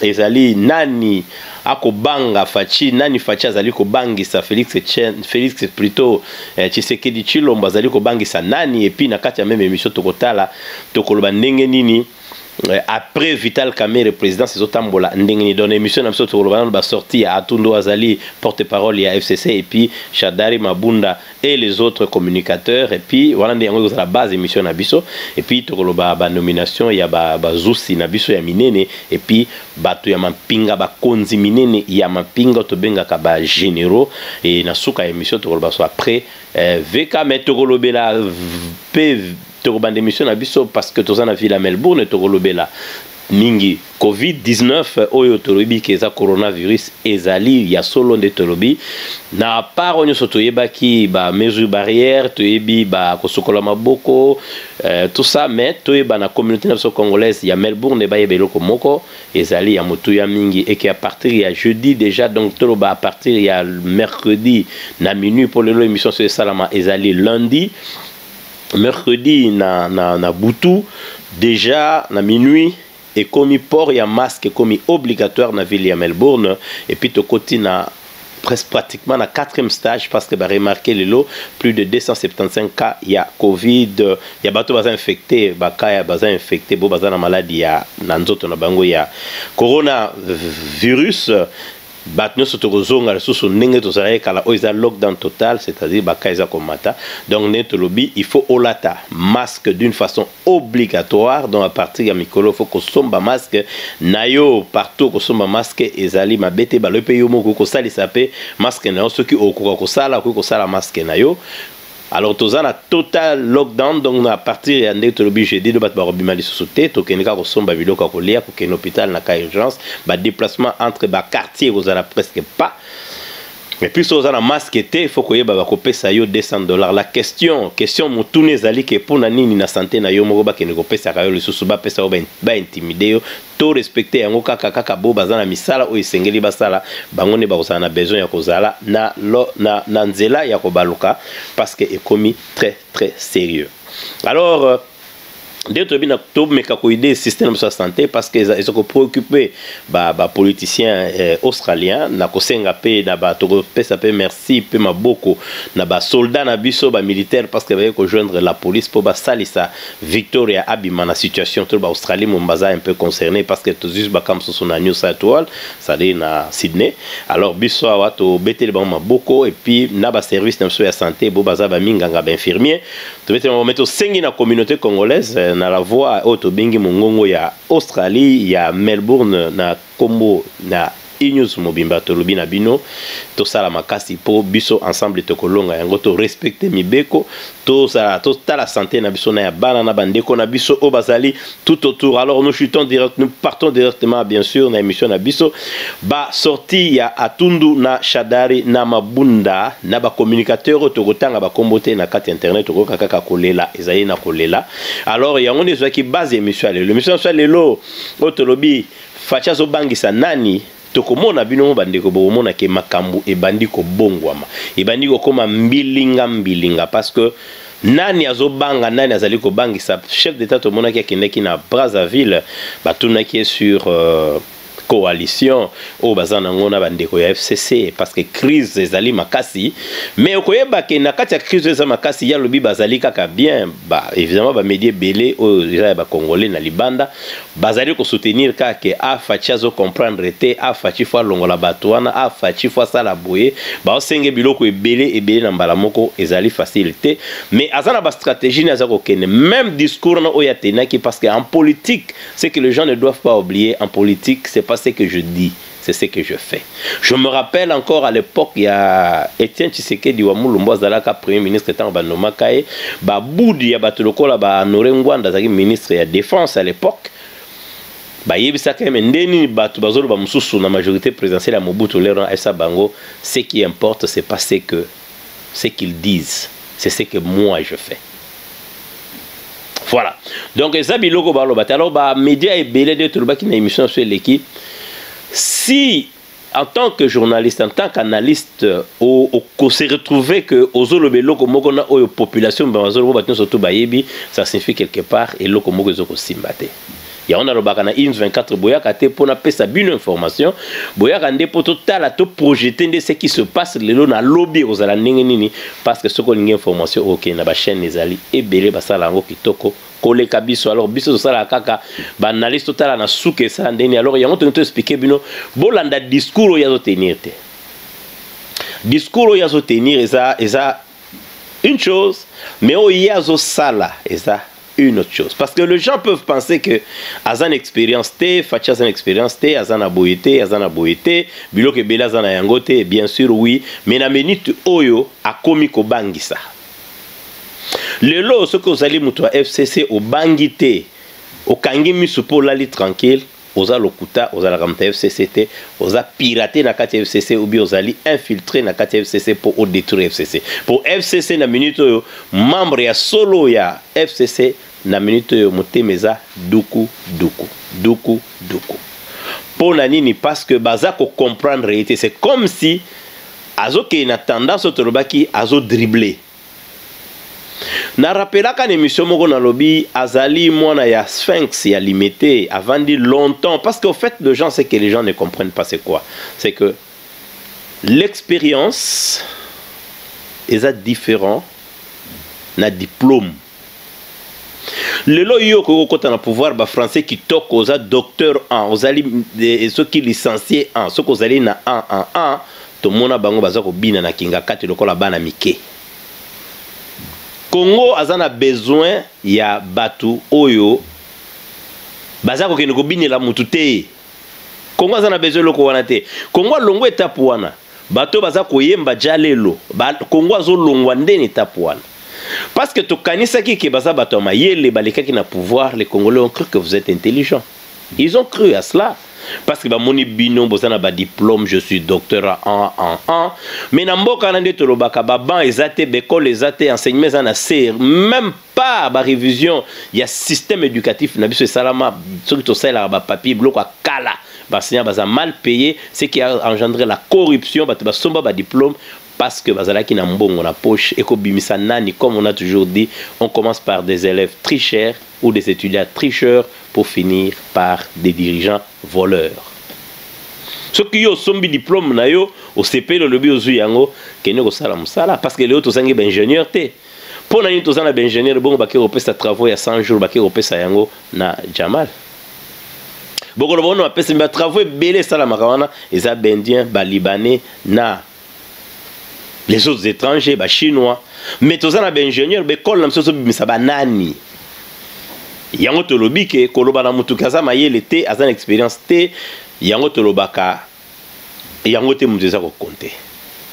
ezali nani akobanga faci nani faci azali kobangisa felix felix plutot eh, chisekedi chilombo azali kobangisa nani epuis na kati ya meme emission tokotala tokoloba ndenge nini eh, après vital kamere présidence ezotambola ndenge nini donc émission na biso tokoloba nano basorti ya atundu azali porte parole ya fcc epuis shadari mabunda et les autres communicateurs et puis wana nde yango ekozala base émission na biso et puis tokoloba ba nomination ya ba bazusi na biso ya minene et puis bato ya mampinga bakonzi minene ya mampinga tobengaka ba généraux et na suka ya émission tokoloba so après euh, VK mais tokolobela pe tokobanda émission na biso parce que toza na ville ya Melbourne tokolobela mingi covid 19 oyo tolobi ke eza coronavirus ezali ya solo nde tolobi na part oyo nyonso toyebaki ba mesure barrière toyebi ba kosokola maboko euh, tout ça mais toyeba na communauté na biso congolaise ya melbourne bayeba eloko moko ezali ya motuya mingi eke à partir ya jeudi déjà donc toloba à partir ya mercredi na minuit mpo lelo émission so esalama ezali lundi mercredi na, na, na butu deja na minuit ekomi port ya masque ekomi obligatoire na ville ya melbourne epuis tokoti na presque pratiquement na quatrième stage parce que baremarke lelo plus de 275 cas ya covid ya bato baza infecte baka ya baza infecte bo baza na maladi ya na nzoto na bango ya coronavirus bato nyonso tokozonga lisusu ndenge tozalaki kala oyo eza lockdown total c'est-à-dire baka eza komata donc ndenge tolobi il faut olata masque d'une façon obligatoire donc à partir ya mikolo il faut kosomba masque na yo partout kosomba masque ezali mabe te balobi mpe yo moko kosalisa mpe masque na yo soki okoka kosala okoki kosala masque na yo alors toza na total lockdown donc na partir ya ndenge tolobi jeudi do bato bakobima lisusu te tokende kaka kosomba biloko ya kolia kokende hôpital na cas urgence badéplacement entre baquartier ekozala presque pas mais puis soki oza na masque te il faut koyeba bakopesa yo 200 dollars la question question motuna ezali ke mpo na nini na sante na yo moko bakende kopesaka yo lisusu bapesa yo baintimide yo To respecter yango kaka kaka bo baza na misala oyo esengeli basala bango nde bakozala na besoin ya kozala na, lo, na, na nzela ya kobaluka parce que ekomi très très sérieux. Alors euh, nde toyebi na tomeka koide système na biso ya santé parce que eza eza kopréoccupe bapoliticien eh, australien na kosenga mpe na ba tokopesa mpe merci mpe maboko na basoldat na biso bamilitaire parce que baye kojoindre la police mpo basalisa Victoria abima na situation tout ba Australie Mombasa un peu concerné parce que tous juste bakam sous na New South Wales ça dit na Sydney alors biso awa to beteli bango maboko et puis na ba service na biso ya santé bo baza ba minganga ba infirmier to beteli bango meto sengi na communauté congolaise euh, na la voix oyo to bengi mongongo ya Australie ya Melbourne na kombo na enews mobimba tolobi na bino tosala makasi mpo biso ensemble tokolonga yango to respecte mibeko tozala totala sante na biso na ya bana na bandeko na biso oyo bazali tout autour alors nous chutons direct nous partons directement bien sûr na émission na biso ba sortie ya atundu na shadari na mabunda na bacommunicateur oyo tokotanga bakombo te na kati ya internet tokoyoka kaka kolela ezali na kolela alors yango nde ezwaki base ya émission ya lelo émission ya lelo oyo tolobi Fatshi azobangisa nani? Tokomona bino ba ndeko bokomona ke makambu ebandi kobongwama. Ebandi kokoma mbilinga mbilinga parce que nani azobanga nani azali kobangisa chef d'etat tomonaki akendaki na Brazzaville batunaki ye sur euh, coalition oyo baza nango na bandeko ya fcc parce que crise ezali makasi mais okoyeba ke na kati ya crise oyo eza makasi ya lobi bazali kaka bien ba, évidemment bamedi ebele oyo eza ya bacongolais na libanda Bazali ko soutenir kaka que ah Fatshi azo comprendre te, ah Fatshi faut alongola batu wana, ah Fatshi faut asala boye, bazo senga ye biloko ebele ebele na mbala moko, ezali facile te, mais aza na ba strategies ne aza kokende, meme discours na oyo a tenaki, parce que en politique, ce que les gens ne doivent pas oublier, en politique, c'est pas ce que je dis. C'est ce que je fais. Je me rappelle encore à l'époque, il y a Etienne Tshisekedi wa Mulumbu azalaka premier ministre tant ba nomaka ye, ba boudi ya bato lokola ba Honore Ngwanda azalaki ministre ya défense à l'époque. Ba yebisaka mais nde nini bato bazoloba mususu na majorité présidentielle ya Mobutu lero na esa bango ce qui importe c'est pas ce que ce qu'ils disent c'est ce que moi je fais voilà donc eza biloko baloba te alors bamédia ebele nde tolobaki na émission so eleki si en tant que journaliste en tant qu'analyste okose retrouve que ozoloba eloko moko na oyo population bazoloba bato nyonso to bayebi ça signifie quelque part eloko moko ezokosimba te yango nalobaka na ins 24 boyaka te mpo napesa bino information boyaka nde mpo totala toprojete nde ce qui se passe lelo na lobi ekozala ndenge nini parce que soki olingi information okende na bachaîne ezali ebele basala yango kitoko koleka biso alors biso tosalaka kaka baanalyse totala na suka esala ndenge nini alors yango tolingi toexplike bino bolanda discours oyo azotenir te discours oyo azotenir eza eza une chose mais oyo ye azosala eza une autre chose parce que les gens peuvent penser que azana expérience te fachi azana expérience te azana boye te azana boye te biloko ebele azana yango te bien sûr oui mais na minute oyo akomi kobangisa lelo soki ozali moto ya fcc obangi te okangi miso mpo olali tranquille Oza lokuta ozalaka moto ya FCC te oza pirate na kati ya FCC ou bien ozali infiltre na kati ya FCC mpo o détruire FCC mpo FCC na minute oyo membre ya solo ya FCC na minute oyo motema eza duku duku duku duku mpo na nini parce que baza ko comprendre ye te c'est comme si azokende na tendance oyo tolobaki azo dribbler Na rappelaka na emission moko nalobi azali mwana ya Sphinx ya Limete avandi longtemps parce que au fait de gens c'est que les gens ne comprennent pas c'est quoi c'est que l'expérience eza différent na diplôme lelo yo okoki kokota na pouvoir ba français kitoko oza docteur en ozali eh, soki licencie en soki ozali na en en en tomona bango baza kobina na kingakati lokola bana mike congo aza na besoin ya bato oyo baza kokende kobinela motu te Congo aza na besoin eloko wana te. Congo alongwa etape wana. Bato baza koyemba jalelo. Ba, Congo azolongwa nde na etape wana. Parce que tokanisaki ke baza bato ya mayele balekaki na pouvoir, les Congolais ont cru que vous êtes intelligent. Ils ont cru à cela. Parce que bamoni bino boza na ba diplôme, je suis docteur en en en. Mais na mboka na nde tolobaka ba banc eza te, bekole eza te, enseignement eza na se, même part ba révision ya système éducatif na biso esalama soki tosalelaka ba papier biloko ya kala baenseignant baza mal payé ce qui a engendré la corruption bato basomba ba diplôme parce que bazalaki na mbongo na poche ekobimisa nani comme on a toujours dit on commence par des élèves tricheurs ou des étudiants tricheurs pour finir par des dirigeants voleurs soki yo osombi diplôme na yo osepeli olobi ozwi yango kende kosala mosala parce que leo tozangi baingénieur te mpo na nini toza na baingenieur bongo bake kopesa travaux ya 100 jours bake kopesa yango na jamal bokoloba ono bapesami batravaux ebele esalamaka wana eza baindien balibanais na les autres étrangers bachinois mais toza na baingenieur baekole na biso ezobimisa banani yango tolobi ke koloba na motuki aza mayele te aza na expérience te yango tolobaka yango te moto eza kokonte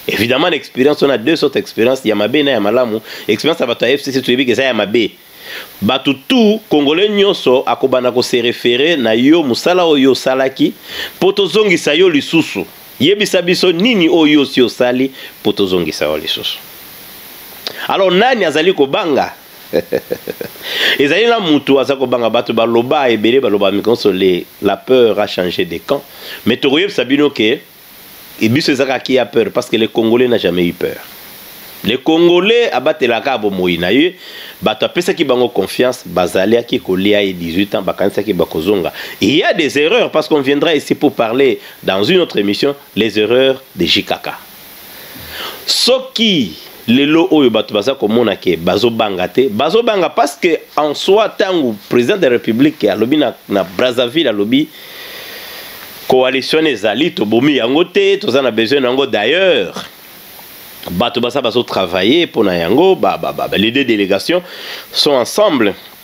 évidemment na expérience on a deux sortes expérience ya mabe na ya malamu expérience ya bato ya fcc toyebi eza ya mabe bato tout congolais nyonso akobanda kose refere na yo mosala oyo osalaki mpo tozongisa yo lisusu yebisa biso nini oyo osi osali mpo tozongisa yo lisusu alors nani azali kobanga ezali na mutu aza kobanga bato baloba ebele baloba mikonso le la peur a changer de camp mais tokoyebisa bino ke biso ezaka ki ya peur parce que le congolais n'a jamais eu peur le congolais abatelaka bomoi na ye bato apesaki bango confiance bazaliaki kolia ye 18 ans bakanisaki bakozonga il y a des erreurs parce qu'on viendra ici pour parler dans une autre émission les erreurs de jikaka soki lelo oyo bato baza komona ke bazobanga te bazobanga parce que en soi ntango président de la république alobi na, na brazzaville alobi coalition ezali tobomi yango te toza na besoin na yango d'ailleurs bato baza bazotravaille mpo na yango ba, ba, ba, ba, les deux délégations sont ensemble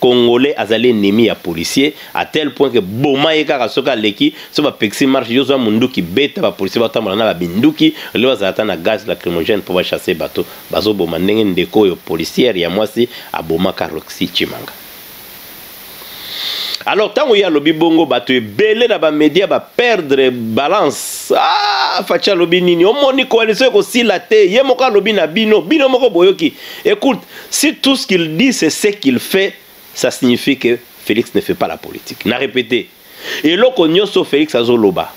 Congolais azali ennemi ya policier à tel point que boma ye kaka soki aleki so ba pekisi marche yo zwa munduki beta ba policier batambola na ba binduki lelo bazala ata na gaz lacrymogène mpo ba chasser bato bazoboma ndenge ndeko oyo policière ya mwasi abomaka Roxy Tshimanga alors ntango ye alobi bongo bato ebele na bamedia baperdre balance ah, faci alobi nini omoni koalisio ekosila te ye moko alobi na bino bino moko boyoki ecoute Si tout ce qu'il dit c'est ce qu'il fait, ça signifie que Felix ne fait pas la politique. Na répété. Eloko nyoso Felix azoloba.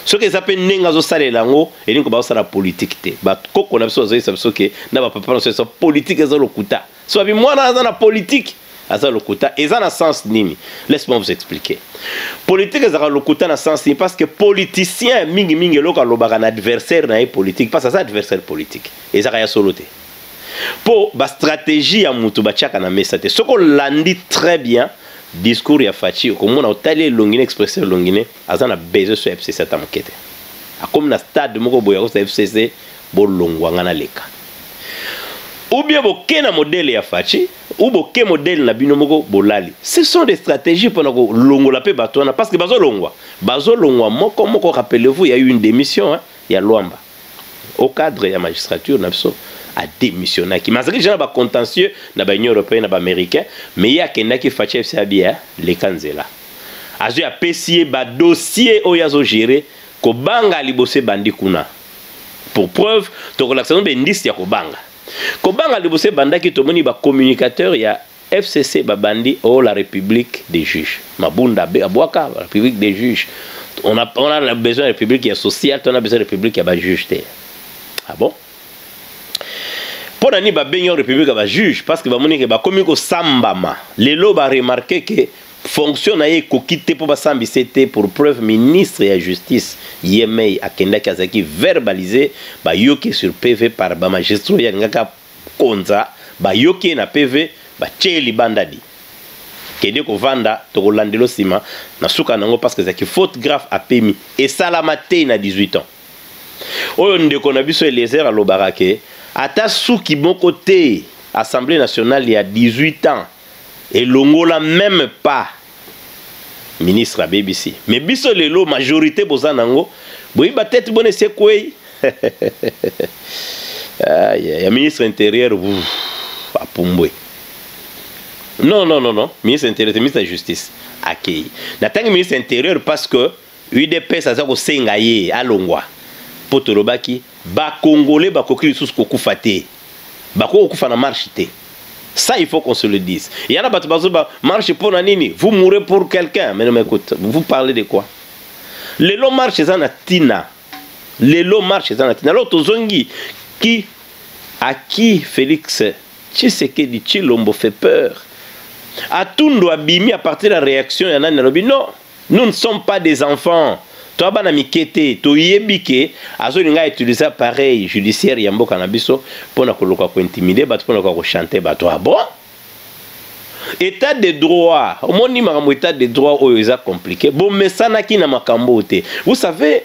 soki eza mpe ndenge azosalela yango elingi koba osala politike te bakoko na biso bazoyisa biso ke na bapapa na biso esa politike eza lokuta so babi mwana aza na politike aza lokuta eza na sens nini laisse moi vous expliquer politique ezalaka lokuta na sens nini parce que politicien mingimingi eloko alobaka na adversaire na ye politique parce aza adversaire politique ezalaka ya solo te mpo bastratégie ya moto batiaka na mesa te soki olandi très bien discours ya faci okomona otali elongi na expressé elongi ne aza na besoin so ya fcc ata moke te akomi na stade moko boye akosa fcc bolongwa ngai naleka ubie boke na modele ya faci ou boke modele na bino moko bolali ce sont des stratégies mpona kolongola mpe bato wana parce que bazolongwa bazolongwa moko moko rappelez-vous ya une démission hein, ya lwamba au cadre ya magistrature na biso a démissionnaki mais azalaki déjà na ba contentieux na ba union européenne na ba américain mais ye akendaki fache fc abia leka nzela azwi apesi ye ba dossier oyo azo gérer kobanga liboso ebandi kuna pour preuve tokolakisa no bendisi ya kobanga kobanga liboso ebandaki tomoni ba communicateur ya FCC babandi oh la république des juges. Mabunda abwaka la république des juges. On a, on a besoin de république ya sociale, on a besoin de république ya ba juges te. Ah bon? mpo na nini babengi yango république ya bajuge parce que bamoni ke bakomi kosambama lelo baremarke ke fonction na ye ekoki te mpo basambisa te pour preuve ministre ya justice ye mei akendaki azalaki verbalize bayoki sur pv par bamagistrat oyo alingaka Konza bayoki ye na PV batie ye libanda dit kende kovanda tokolandelo sima na suka nango parce que ezalaki faute grave apemi esalama te na 18 ans oyo ndeko na biso Eliezer alobaka ke ata suki moko te Assemblée nationale ya 18 ans elongola meme pas ministre abebisi mais biso lelo majorité boza nango boyiba tete bona esekwei ah, ya ministre intérieur apumbwe non non non non ministre intérieur te ministre ya justice akei natangi ministre intérieur parce que Udps aza kosenga ye alongwa mpo tolobaki ba congolais bakoki lisusu kokufa te, bakoki kokufa na marche te. Ça, il faut qu'on se le dise. Il y en a qui disent, marche pour Nanini, vous mourrez pour quelqu'un. Mais non, mais écoute, vous parlez de quoi Les lots marchent dans la Tina. Les lots marchent dans la Tina. Alors, Tozongi, qui, à qui Félix Tshisekedi Chilombo fait peur À Tundu Abimi, à partir de la réaction, il y en a qui disent, non, Nous ne sommes pas des enfants. Toi bana mike te toyebi ke azolinga utiliser appareil judiciaire ya mboka na biso mpo na koluka kointimide bato mpo na koka kochante bato ah bon état de droit omoni makambo état de droit oyo eza compliqué bomesanaki na makambo oyo te vous savez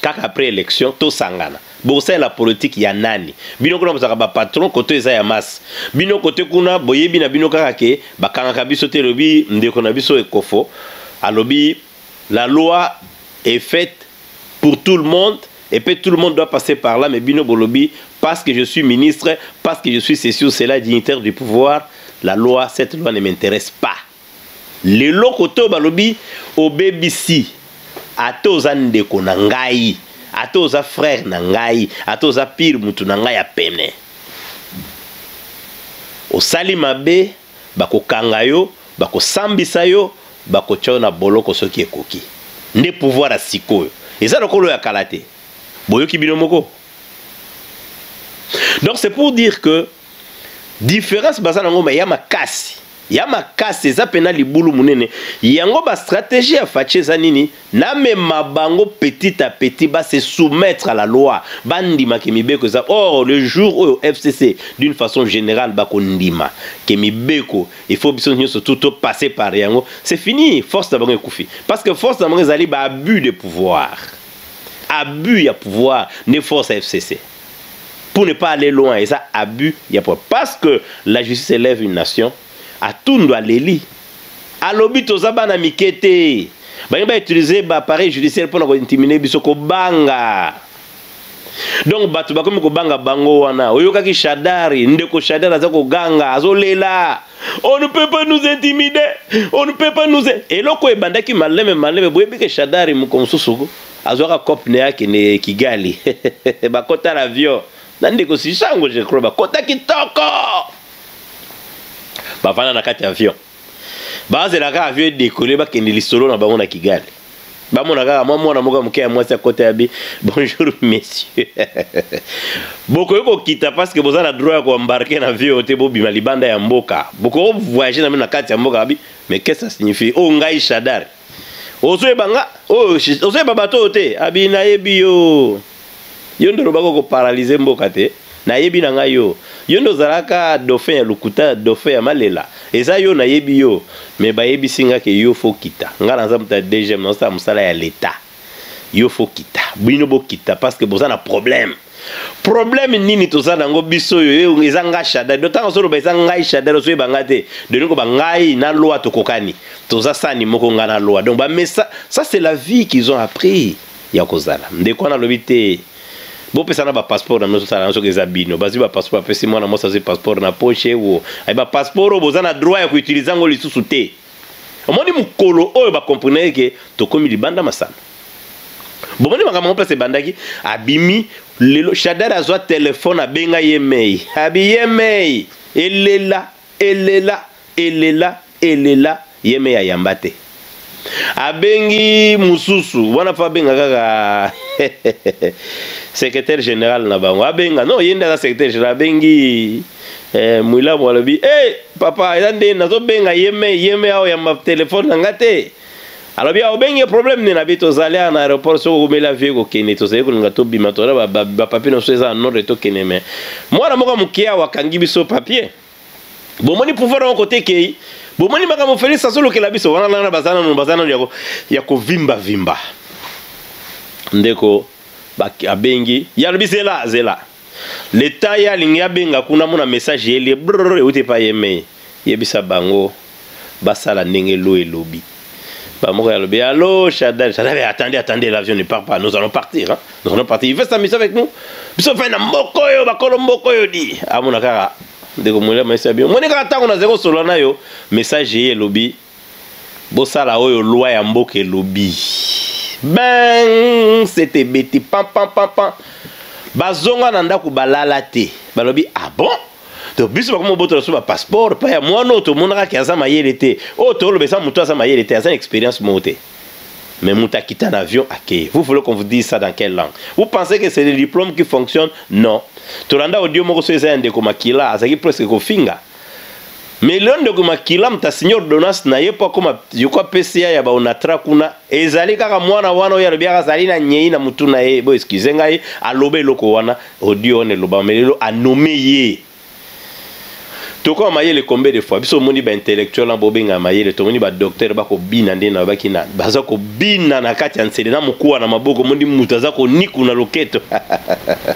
kaka après élection tosangana bokosalela politike ya nani bino kuna bozalaka bapatron koto eza ya masse bino kote kuna boyebi na bino kaka ke bakangaka biso te elobi ndeko na biso ekofo alobi la loi est faite pour tout le monde et puis tout le monde doit passer par là mais bino bolobi parce que je suis ministre parce que je suis ceci ou cela dignitaire du pouvoir la loi cette loi ne m'intéresse pas Lelo kote oyo balobi obebisi ata oza ndeko na ngai ata oza frère na ngai ata oza pire mutu na ngai ya pene osali mabe bakokanga yo bakosambisa yo bakotya yo na boloko soki ekoki nde pouvoir ya sikoyo eza lokola oyo ya kala te boyoki bino moko donc c'est pour dire que difference baza nango ma ya makasi ya makasi eza pena libulu munene yango ba stratégie ya fache eza nini na mema bango petit à petit ba se soumettre à la loi bandima ke mibeko eza or le jour oyo FCC d'une façon générale ba kondima ke mibeko il faut biso nyoso tout to passer par yango c'est fini force na bango ekufi parce que force na bango ezali ba abus de pouvoir abus ya pouvoir ne force ya FCC pour ne pas aller loin eza abus ya pouvoir parce que la justice élève une nation atundu aleli alobi toza bana mike te balingi bautilize baappareil judiciaire mpo na kointimine biso kobanga donc bato bakomi kobanga bango wana oyokaki shadari ndeko shadari aza koganga azolela on ne peut pas nous intimider on ne peut pas nous eloko ebandaki maleme maleme boyebi ke shadari moko mosusu azwaka cop na ye akende kigali bakota na avion na ndeko sisango je crois bakota kitoko bavanda na kati ya avion bazela kaka avion edekole bakende lisolo na bango na kigali bamona kaka mwa mwana moko ya moke ya mwasi akota ya bi bonjour monsieur bokoki kokita parceke boza na droit ya koembarke na avion te bobima libanda ya mboka bokoki kovoyage na bino na kati ya mboka abi mais qu'est-ce que ça signifie oyo oh, ngai shadari ozoyeba nga oyo oh, ozoyeba bato oyo te abi nayebi yo yo nde olobaka okoparalyze mboka te nayebi na ngai yo yo nde ozalaka dauphin ya lokuta dauphin ya malela eza yo nayebi yo me bayebisi nga ke yo fokita ngai naza moto ya dgm naosala mosala ya leta yo fo kita bino bokita parce que boza na problème problème nini toza nango biso oyo eh, eza ngai shadari do ntango ozoloba eza ngai shadari ozoyeba ngai te delingo ba ngai na loi tokokani toza sani moko ngai na loi donc bamesa ça c'est la vie qu'ils ont appris ya kozala ndeko wana alobi te bopesa na bapasseport na bino tosala na soki eza bino bazwi bapasseport apesi mwana mwasi azwi passeport na poche wo aye bapasseport oyo boza na droit ya koutilize yango lisusu te omoni mokolo oyo bakomprenaki ke tokomi libanda masano bomoni makambo yango place ebandaki abimi lelo shadari azwa telefone abenga ye mei abi ye mei elela elela elela elela ye mei ayamba te abengi mosusu wana mpo abenga kaka secrétaire général na bango abenga non ye nde aza secrétaire général abengi eh, mwilamu alobi hey, eh, papa eza nde nazobenga yeme yeme awa ya telefone na nga te alobi awa obengi ye problème nini abi tozali awa na aéroport soki okomeli avie kokende tozali kolinga tobima tona bapapie na biso eza na nordre tokende me mwana moko moke awa akangi biso papie bomoni pouvoir yango kote ekei bomoni makambo felix azolukela biso wana nana baza nanu baza nanu ya kovimbavimba ndeko abengi ye alobi zela zela Leta ye alingi abenga kuna mona message yeli brrr euti epai ye mei yebisa bango basala ndenge lo elobi bamoko ya lobi allo Shaddai Shaddai attendez attendez l'avion ne part pas nous allons partir hein? nous allons partir il veut s'amuser avec nous biso fai na mboko oyo bakolo mboko oyo di amona kaka ndeko mwele maisi ya bino moni kaka ntango nazali kosolola na yo message ye elobi bosala oyo loi ya mboka elobi ben sete ebeti pampampampa bazonga na ndako balala te balobi ah bon to biso bakoma obotola so bapasseport mpa ya mwana oyo tomonaka ke aza mayele te oyo toloba eza moto aza mayele te aza na expérience moko te mais moto akita na avion akei vous voulez qu'on vous dise ça dans quelle langue vous pensez que c'est le diplôme qui fonctionne non tolanda audio moko so eza ya ndeko makila azalaki presque kofinga Mais le ndeko makila mta signer ordonnance na ye mpo akoma je crois PCA ya baonatra kuna ezali kaka mwana wana oyo alobi azali na nyei na mutu na ye bo excuse ngai aloba eloko wana audio wana elobama mais lelo anome ye tokoma mayele combien de fois biso omoni baintellectuel na bobenga mayele tomoni badoktere bakobina nde nabaki na baza kobina na kati ya nsele na mokuwa na maboko omoni moto aza koniku na loketo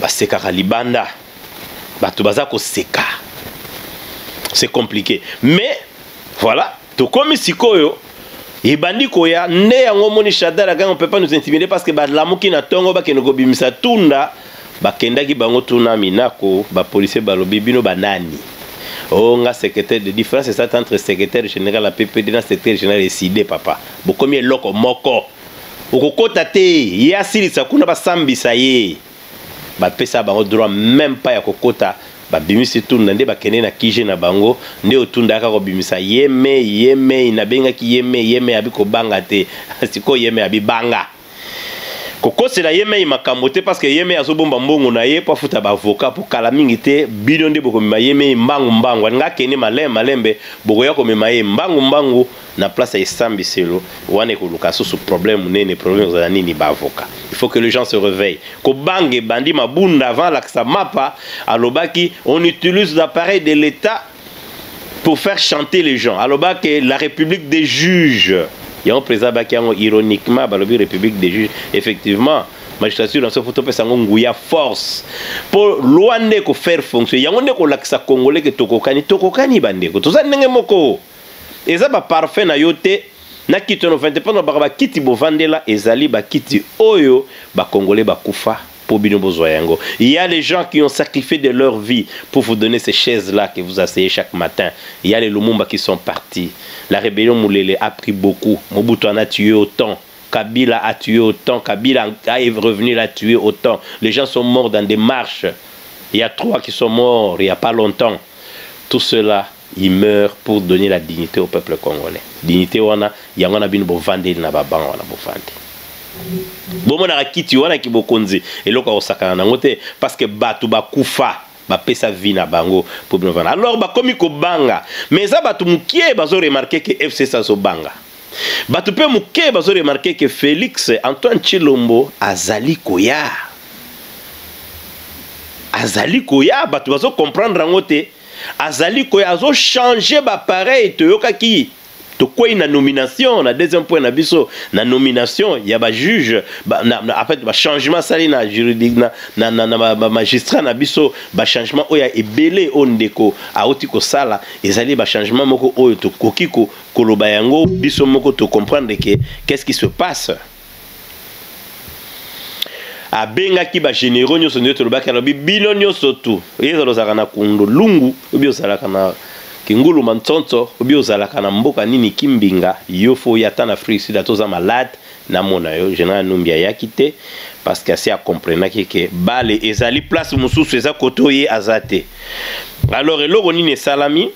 basekaka libanda bato baza koseka c'est compliqué mais voilà tokomi sikoyo ebandi koya nde yango omoni shadar akango peut pas nous intimider parce que balamuki na ntongo bakende kobimisa tunda bakendaki bango tuna minako bapolisier balobi bino banani o oh, nga secrétaire de différence ezalaki entre secrétaire général ya ppd na secrétaire général eside papa bokomi eloko moko okokota te ye asilisa kuna basambisa ye bapesa bango droit meme pas ya kokota babimisi tunda nde bakende na kije na bango nde otunda aka kobimisa yemei yemei nabengaki yemei yemei abi kobanga te sikoyo yemei abibanga kokosela ye mei makambo te parceke ye mei azobomba mbongo na ye mpo afuta baavoka mpo kala mingi te bino nde bokomema ye mei mbangu mbangu alinga akende malembe malembe bokoya komema ye mbangu mbangu na place ya esambiselo wana ekoluka susu problème munene problème kozala nini ba avocat il faut que les gens se réveillent kobanga ebandi mabunda avant alakisa mapa alobaki on utilise l'appareil de l'état pour faire chanter les gens alobaki la république des juges yango président abaki yango ironiquement balobi république des juges effectivement magistrature na biso fo topesa yango nguya force mpo loi nde ekofaire fonction yango nde ekolakisa congolais ke tokokani tokokani bandeko toza ndenge moko Eza ba parfum na yo te na kiti wana ofandi te mpo nalobaka bakiti bovandela ezali bakiti oyo bakongole bakufa mpo bino bozwa yango ya les gens qui ont sacrifié de leur vie pour vous donner ces chaises là que vous asseyez chaque matin ya les lumumba qui sont partis la rébellion mulele a pris beaucoup mobutu en a tué autant Kabila a tué autant, Kabila est revenu, l'a tué autant. Les gens sont morts dans des marches. Il y a trois qui sont morts il n'y a pas longtemps. Tout cela il meurt pour donner la dignité au peuple congolais dignité wana yango na bino bovandeli na babango wana bovandi bomonaka kiti wana kibokonzi eloko ya kosakana nango te parce que bato bakufa bapesa vie na bango mpo bino vana alors bakomi kobanga mais eza bato mokie bazo remarke ke fcs azobanga bato mpe moke bazo remarke ke félix antoine chilombo azali koya azali koya bato bazo comprendre yango te azali koya azo changer ba pareil toyokaki tokwei na nomination na deuxième point na biso na nomination ya ba juge ba, na, na, en fait ba changement asali na juridique na, na, na, na ba, ba magistrat na biso ba changement oyo ya ebele oyo ndeko auti kosala ezali ba changement moko oyo tokoki ko, koloba yango biso moko to comprendre ke qu'est-ce qui se passe abengaki ba generaux nyonso nde tolobaki alobi bino nyonso tu ezala ozalaka na kundu lungu obi ozalaka na kingulu mantsonso obi ozalaka na mboka nini kimbinga yo fo oya ata na afrique sud ata oza malade namona yo general numbi ayaki te parce que asi acomprenaki ke bale ezali place mosusu eza kote oye aza te alors eloko nini esalami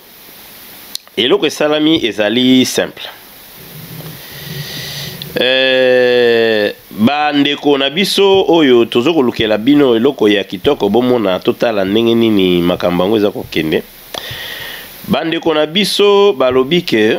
eloko esalami ezali simple euh, bandeko na biso oyo tozo kolukela bino eloko ya kitoko bomona totala ndenge nini makambo yango eza kokende bandeko na biso balobi ke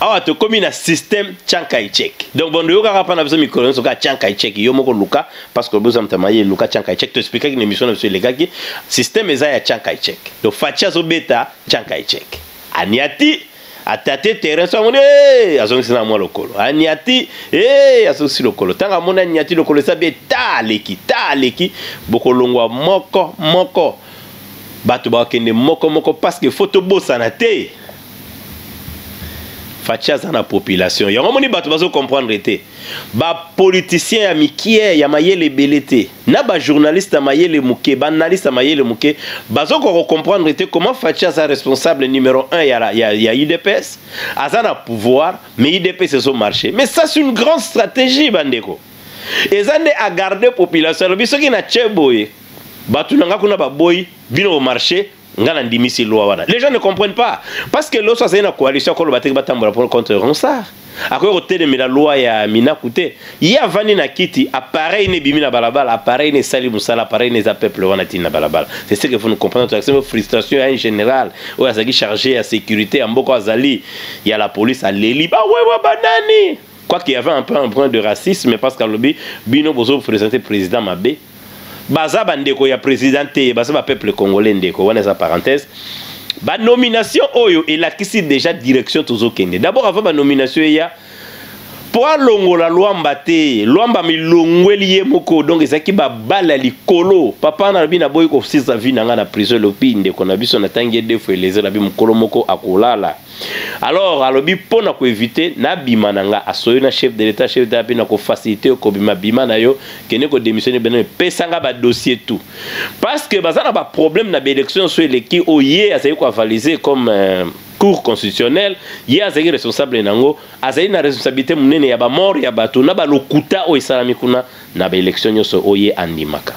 awa tokomi na système chanka echek donc bondo yokaka mpa na biso mikolo nyonso kaka chanka echek yo moko luka parce que oboza moto maye luka chanka echek toexplikaki na émission na biso elekaki système eza ya chanka echek donc faci azobeta chanka echek aniati atate terrain so amoni eh, azongisi na mwa lokolo aniati eh, azongisi lokolo ntango amoni aniati lokolo eza be ta aleki ta aleki bokolongwa moko moko bato bakende moko moko parce que fo tobosana te faci aza na population yango moni bato bazo comprendre te bapoliticien ya mikie ya mayele ebele te na bajournaliste ya mayele moke baanalyste ya mayele moke bazokoka kocomprendre te comment faci aza responsable numero 1 ya, ya, ya udps aza na pouvoir mais udps ezo marche mais ça c'est une grande stratégie bandeko eza nde agarde population alobi soki na tie boye bato na ngai kuna baboyi bino bomarche nga na ndimisi loi wana les gens ne comprennent pas parce que loso azali na coalition akoloba te batambola pour contre ronsard akoki kotelemela loi ya minaku te ye avandi na kiti appareil ne ebimi na balabala appareil ne esali mosala appareil ne eza peuple wana tini na balabala c'est ce que vous ne comprenez toakisema frustration ya un général oyo azalaki chargé ya sécurité ya mboka azali ya la police aleli bawewa banani quoi qu'il y avait un peu un brin de racisme parce que alobi bino bozo présenter président mabe baza bandeko ya président te baza ba peuple congolais ndeko wana eza parenthèse ba nomination oyo elakisi déjà direction tozokende d'abord avant ba nomination eya mpo alongola lwamba te lwamba milongweli ye moko donc ezalaki babale ya likolo papa nalobi naboyi kosisa vi na ngai na prison elobi ndeko na biso natangi ye defo elezela bi mokolo moko akolala alors alobi mpo na koevite nabima na nga asoyo na chef de l'etat chef d'etat mpe na kofacilite yo kobima bima na yo kende kodémissionne bino epesa nga badossier tout parce que baza na baproblème na baélection nyonso eleki oyo ye azali koavalise comme euh, cour constitutionnelle ye azali responsable na yango azali na responsabilité monene ya bamort ya bato na balokuta oyo esalami kuna na baélection nyonso oyo ye andimaka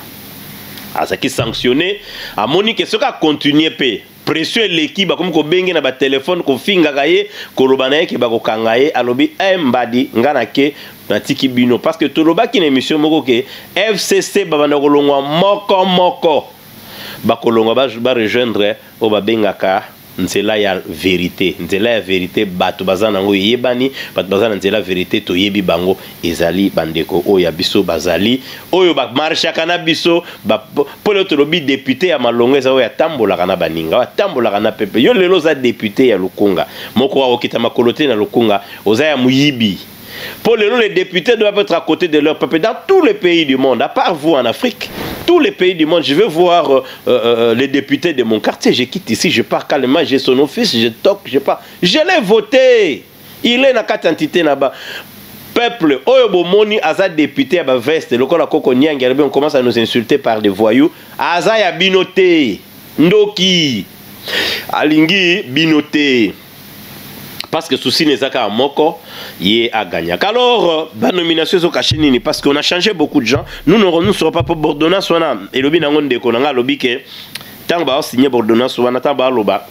azalaki sanctionné amoni ke soki akontinue mpe Pression eleki bakomi kobenge na ba telephone kofingaka ye koloba na ye ke bakokanga ye alobi eh mbadi nga na ke natiki bino parce que tolobaki na emission moko ke FCC babanda kolongwa moko moko bakolongwa ba, ba rejoindre oyo babengaka nzela ya verite nzela ya verite bato baza nango eyebani bato baza na nzela verite toyebi bango ezali bandeko oyo ya biso bazali oyo bamarshaka na biso mpo lelo tolobi depute ya malonga eza oyo atambolaka na baninga oyo atambolaka na pepe yo lelo oza depute ya lukunga moko akokita makolo te na lukunga oza ya moyibi mpo lelo les députés doivent être à côté de leur peuple dans tous les pays du monde à part vous en afrique tous les pays du monde, je veux voir euh, euh, euh, les députés de mon quartier. Je quitte ici, je pars calmement, j'ai son office, je toque, je pars. Je l'ai voté. il est na kati entité na ba peuple oyo bomoni aza député ya ba veste lokola koko nyangi alobi on commence à nous insulter par des voyous aza ya bino te ndoki alingi bino te parce que souci n'eza kaka moko ye agagnaka alors euh, banomination ezokache nini parce qu'on a changé beaucoup de gens nous ne serons pas pour bordonnance wana elobi nango ndeko na ngai alobi ke ntango baosigne bordonnance wana ntango baaloba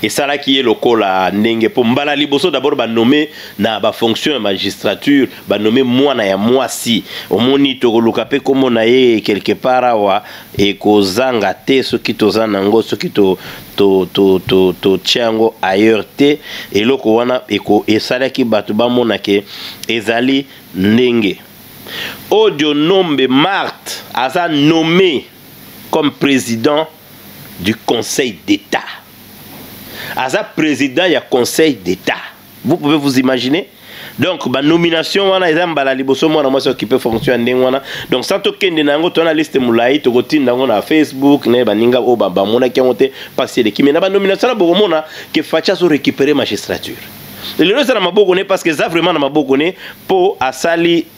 esalaki ye lokola ndenge mpo mbala liboso dabord banome na bafonction ya magistrature banome mwana ya mwasi omoni tokoluka mpe nkombo na ye quelque part awa ekozanga te soki toza na yango soki to to to to to tya yango ailleurs te eloko wana eko esalaki bato bamona ke ezali ndenge odio nombe marte aza nommé comme président du conseil d'état aza président ya conseil d'état vous pouvez vous imaginer donc banomination wana eza mbala liboso mwana mwasi okipe fonction ya ndenge wana donc sa tokende na yango tona liste molai tokotinda yango na facebook na baninga oyo bamonaki yango te mpasi eleki me na banomination na bokomona ke faci azo récupere magistrature lelo eza na maboko ne parce que eza vraiment na maboko ne mpo asali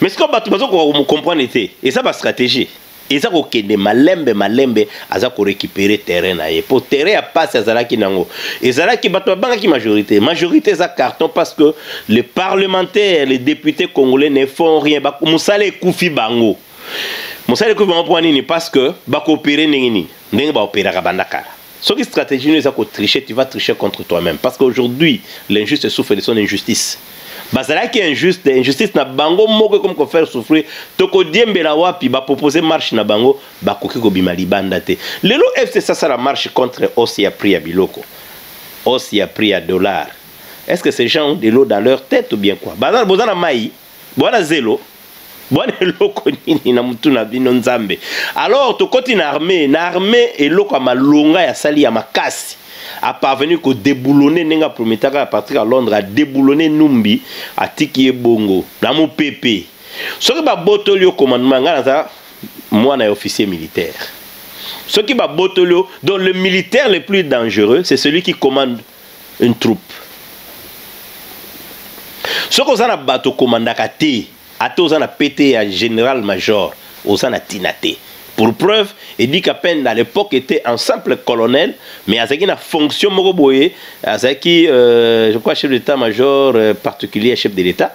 mais sikoyo bato bazokoka komucomprendre te eza bastratégie eza kokende malembe malembe aza korécupere terrain na ye mpo terrain ya mpasi azalaki nango ezalaki bato babangaki majorité majorité eza carton parce que le parlementaire le député congolais ne font rien mosala ekufi bango mosala ekufi bango mpo nini parce que bakopere ndenge nini ndenge baoperaka banda kala Ce qui stratégie nous a tricher, tu vas tricher contre toi-même. Parce qu'aujourd'hui, l'injuste souffre de son injustice. bazalaki injuste injustice na bango moko ekomi kofaire souffrir tokodiembela wapi bapropose marche na bango bakoki kobima libanda te lelo fcc asala marche contre hausse ya prix ya biloko hausse ya prix ya dollar est ce que ces gens ont de l'eau dans leur tête ou bien quoi boza na mai Bwana zelo bwana eloko nini na mutu na bino nzambe alors tokoti na armée na armée eloko ya malonga ya sali ya makasi a parvenir ko deboulonner ndenge a prometaka ya Patrick à Londres a deboulonner Numbi atiki ye bongo na mupepe soki babotoli yo commandement ngai naza mwana ya officier militaire soki babotoli yo donc le militaire le plus dangereux c'est celui qui commande une troupe soki oza na bato okomandaka te ata oza na pete ya général major oza na ntina te pour preuve edika pende à l'époque était un simple colonel mais azalaki na fonction moko boye azalaki euh, je crois chef d'état major euh, particulier chef de l'état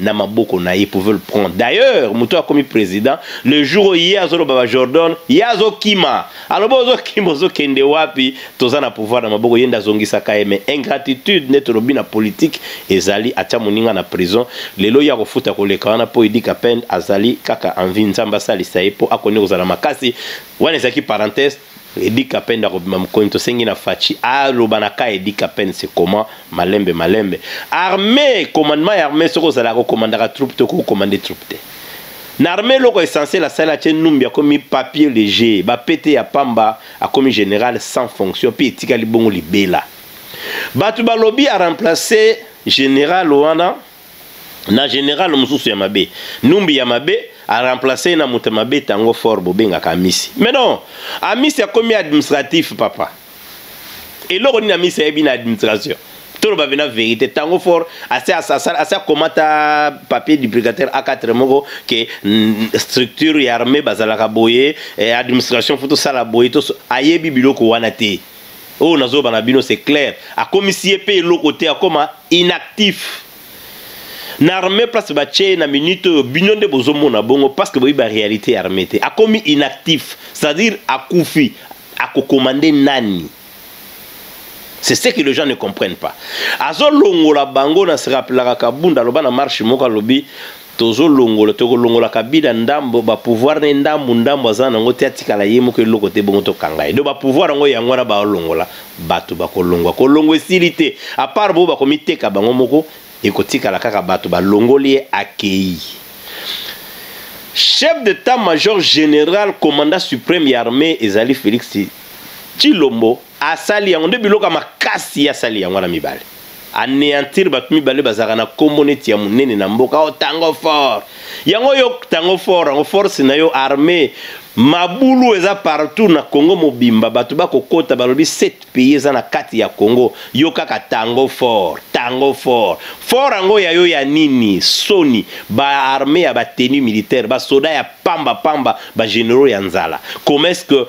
na maboko na ye pouvait le prendre d'ailleurs moto akomi président le jour oyo ye azoloba ba jordan ye azokima alobi ozokima ozokende wapi toza na pouvoir na maboko ye nde azongisaka ye mais ingratitude nde tolobi na politique ezali atya moninga na prison lelo ye akofuta koleka wana mpo edika pende azali kaka envi nzambe asalisa ye mpo akoni kozala makasi wana ezalaki parenthèse Eddy Kapend akobima mokoni tosengi na Fatshi aloba na ka Eddy Kapend c'est comment malembe malembe armée commandement ya armée soki ozalaka okomandaka troupe to kokomande troupe te na armée eloko essentiel asali atie numbi akomi papier léger bapete ya pamba akomi général sans fonction mpe etikali bongo libela bato balobi aremplace général wana na general mosusu ya mabe numbi ya mabe aremplace ye na moto ya mabe tango fort bobengaka amisi mais non amisi akomi administratif papa eloko nini amisi ayebi na administration toloba pena verité tango fort asi akomata papier du brigataire a4 moko ke mm, structure ya armée bazalaka boye eh, administration fo tosala boye ayebi biloko wana te oyo nazoloba na bino c'est clair akomisi ye mpe eloko te akoma inactif na armée place batye ye na minute oyo bino nde bozomona bongo parce que boyebi baréalité ya armée te akomi inactif c'est-à-dire akufi akokomande nani c'est ce que les gens ne comprennent pas azolongola bango na se rappelaka kabunda aloba na marche moko alobi Tozo longola toko longola kabila ndambo ba pouvoir ne ndambu ndambu aza nango te atikala ye moko eloko te bongo tokanga ye donc ba pouvoir yango yango wana ba longola batu bakolongwa kolongwa esili te à part bo bakomiteka bango moko ekotikala kaka batu balongoli ye akeyi chef d'etat major general commanda supreme ya armee ezali Felix tshilombo Asali yango nde biloko ya makasi ye asali yango wana mibale. Aneantir bato mibale bazalaka na kombo neti ya monene na mboka o oh, tango fort. Yango yo tango fort yango force na yo armée mabulu eza partout na Congo mobimba bato bakokota balobi 7 pays eza na kati ya Congo yo kaka tango fort tango fort fort yango ya yo ya nini soni ba armée ya ba tenue militaire ba soda ya pamba pamba ba généraux ya nzala comment est-ce que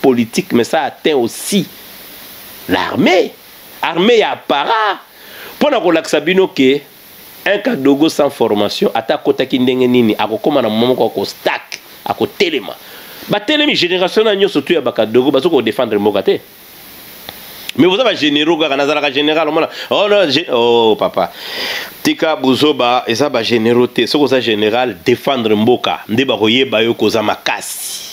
politique mais ça atteint aussi l'armée armée ya para mpo na kolakisa bino ke un kadogo sans formation ata akotaki ndenge nini akokóma na moma moko akostak akotelema batelemi génération na nyonso tu ya bakadogo bazo kodefendre mboka te mais boza bagénéraux kaka nazalaka général omona oh, no, ge... oh papa tika buzoba eza bagénéraux te soki oza général defendre mboka nde bakoyeba yo koza makasi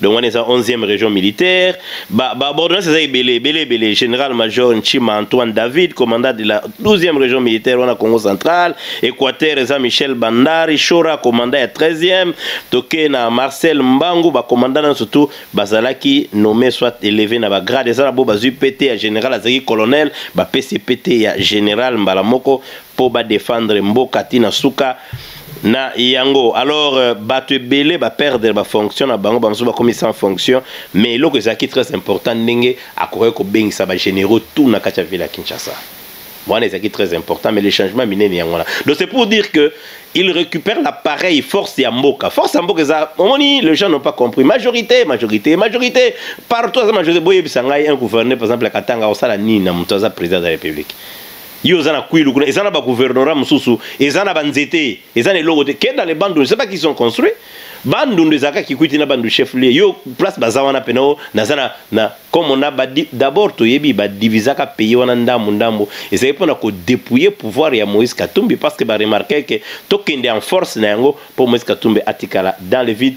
donc wana eza 11e région militaire baordonnance eza ebele ebele ebele général major nchima antoine david commandant de la 12e région militaire wana congo central équateur eza michel bandari shora commandant ya 13e toke na marcel mbangu bacommandant nyonso tu bazalaki nommé soit élevé na bagrade eza na bo bazwi pete ya général azalaki colonel bapesi pete ya général mbala moko mpo badefendre mboka ntina suka na yango alors euh, bato ebele baperdre bafonction na bango bamosusu bakomi sans fonction mais eloko ezalaki très important ndenge akokaki kobengisa bagénéraux tout na kati ya ville ya kinshasa wana ezalaki très important mais le changement minene yango wana donc c'est pour dire que il récupère l'appareil force ya mboka force ya mboka eza omoni les gens n'ont pas compris majorité majorité majorité partout aza majorité boyebisa ngai un gouverneur par exemple ya katanga osala nini na moto aza président de la république Yo oza na kwilu kuna, eza na ba gouvernorat mususu, eza na ba nzete, eza na eloko te. Kenda le bandundu, c'est pas qu'ils ont construit. Bandundu ezaka kikwiti na bandu chef lieu. Yo place baza wana pena o naza na na comme on a ba d'abord toyebi ba divisaka payer wana ndambu ndambu. Ezali pona ko dépouiller pouvoir ya Moïse Katumbi parce que ba remarquer que tokende en force na yango pour Moïse Katumbi atikala dans le vide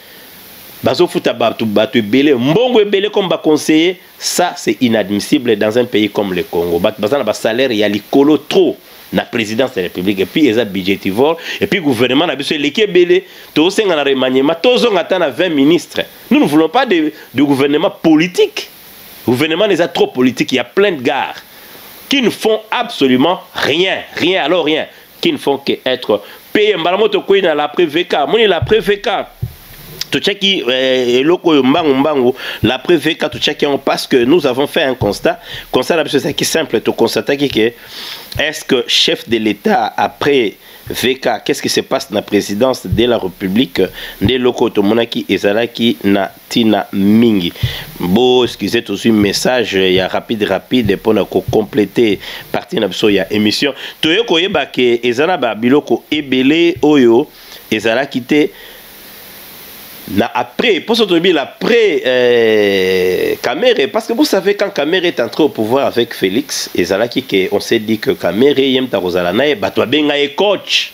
bazofuta bato bato ebele mbongo ebele comme baconseiller ça c'est inadmissible dans un pays comme le congo bato baza na basalaire ya likolo trop na présidence ya république epuis eza budgetivore epuis gouvernement na biso eleki ebele tozosenga na remaniement tozonga ata na 20 ministre nous ne voulons pas de, de gouvernement politique gouvernement eza trop politique ya plein de gare qui ne font absolument rien rien alors rien qui ne font que être payés mbala moko tokwei na la prevk moni la prevk totiaki eh, eloko oyo mbangu mbangu la prevk totiaki yango parce que nous avons fait un constat constat na biso ezalaki simple toconstataki que est ce que chef de l'état après VK, qu'est-ce qui se passe na présidence de la République nde eloko tomonaki ezalaki na tina mingi bo excusez tozwi message ya rapide rapide mpo na kocomplete partie na biso ya émission toye koyeba ke eza na babiloko ebele oyo ezalaki te na après mposo toyebi la après euh, kamere parce que vous savez quand kamere est entré au pouvoir avec félix ezalaki ke on s'est dit que kamere ye mta kozala na ye bato babenga ye coach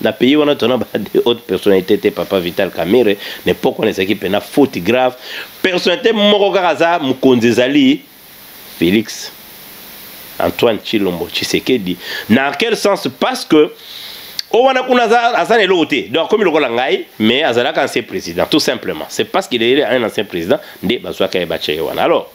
Na pays wana tona ba de haute personnalité te papa Vital Kamere ne poko nezaki pena faute grave personnalité moko kaka za mukonzi ezali Felix Antoine Chilombo Tshisekedi na quel sens parce que o wana kuna aza na eloko te donc akomi lokola ngai mais azalaka ancien président tout simplement c'est parce qu'il est un ancien président nde bazwaka ye batya ye wana alors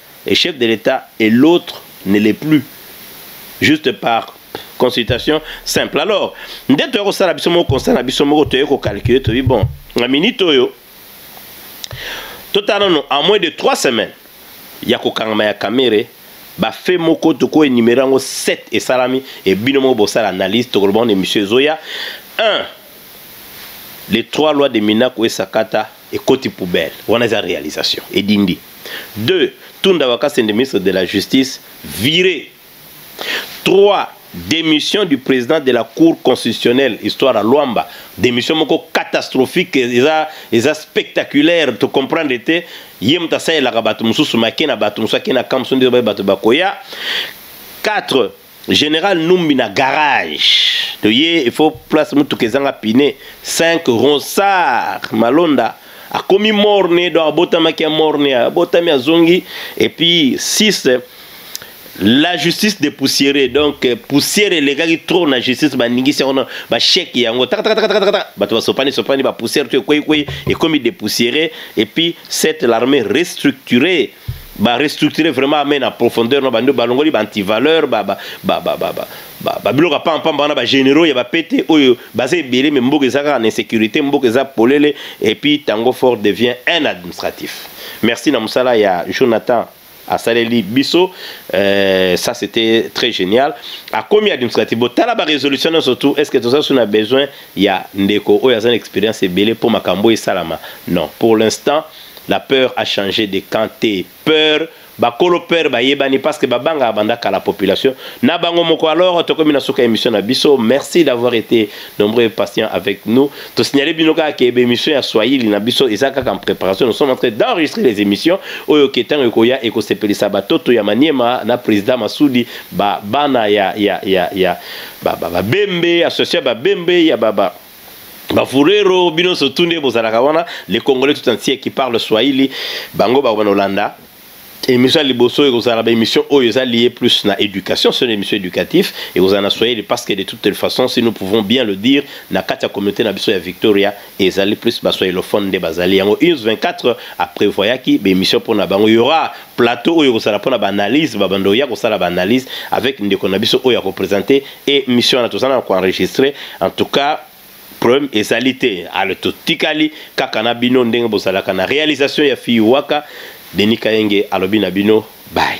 et chef de l'Etat et l'autre ne l'est plus juste par consultation simple alors nde toyei kosala biso moko constat na biso moko toyei kocalcule toyebi bon na minute oyo totala nano en moins de 3 semaines ya kokangama ya kamere bafe moko tokoki enumere yango 7 esalami e bino moko bosala analyse tokoloba na émission ezoya 1 les trois lois de minaku esakata ekoti poubelle wana eza realisation edindi deux tunda bakasende ministre de la justice vire trois démission du président de la cour constitutionnelle histoire ya lwamba démission moko catastrophique eza, eza spectaculaire to comprendre te ye moto asalelaka bato mosusu make na bato mosusu ake na kamp mosusu nde baye bato bakoya 4 General Numbi na garage. Toye il faut place mutuka ezanga pine 5 ronsard malonda akomi morne donc abotamaki ya morne abotami azongi et puis 6 la justice de poussière donc euh, poussière elekaki trop na justice baningisi yango bacheke yango takatakatakataka bato basopani sopani bapoussière to ekweikwei ekomi depoussière et puis cette l'armée restructurée ba restructurer vraiment amène en profondeur na bando balongoli ba antivaleur ba ba ba ba ba ba ba biloko ya pampamba wana ba généraux ya bapete oyo baza ebele me mboka eza kaka na insécurité mboka eza polele et puis tango fort devient un administratif merci na mosala ya jonathan asaleli biso euh, ça c'était très génial akomi administratif botala barésolution nyonso tout est ce que toza so na besoin ya ndeko oyo aza na expérience ebele mpo makambo esalama non pour l'instant La peur a change de camp te. Peur bakolo peur bayebani parce que babanga banda kala population na bango moko alors tokomi na suka émission na biso merci d'avoir été nombreux et patient avec nous to signaler bino kaka ke émission ya Swahili na biso eza kaka en préparation nous sommes en train d'enregistrer les émissions oyo ke tango ekoya ekosepelisa batoto ya Maniema na président Masudi ba bana ya ya ya ya ba ba, ba bembe association ba bembe ya ba, ba bafurero bino nso tu nde bozalaka wana le congolais tout entier qui parle swahili bango bakobanda kolanda émission ya liboso ekozala baémission oyo eza lié plus na éducation sona émission éducatif ekozala na swahili parce que de toute les façons si nous pouvons bien le dire na kati ya communauté na biso ya victoria ezali plus baswahilophone nde bazali yango ins 24 aprévoyaki baémission mpo na bango yora plateau oyo ekozala mpona baanalyse babanda oya kosala baanalyse avec ndeko na biso oyo akopresente emission wana toza na koenregistre en tout cas problème ezali te ale totikali kaka na bino ndenge bozalaka na réalisation ya fille waka deni kayenge alobi na bino bai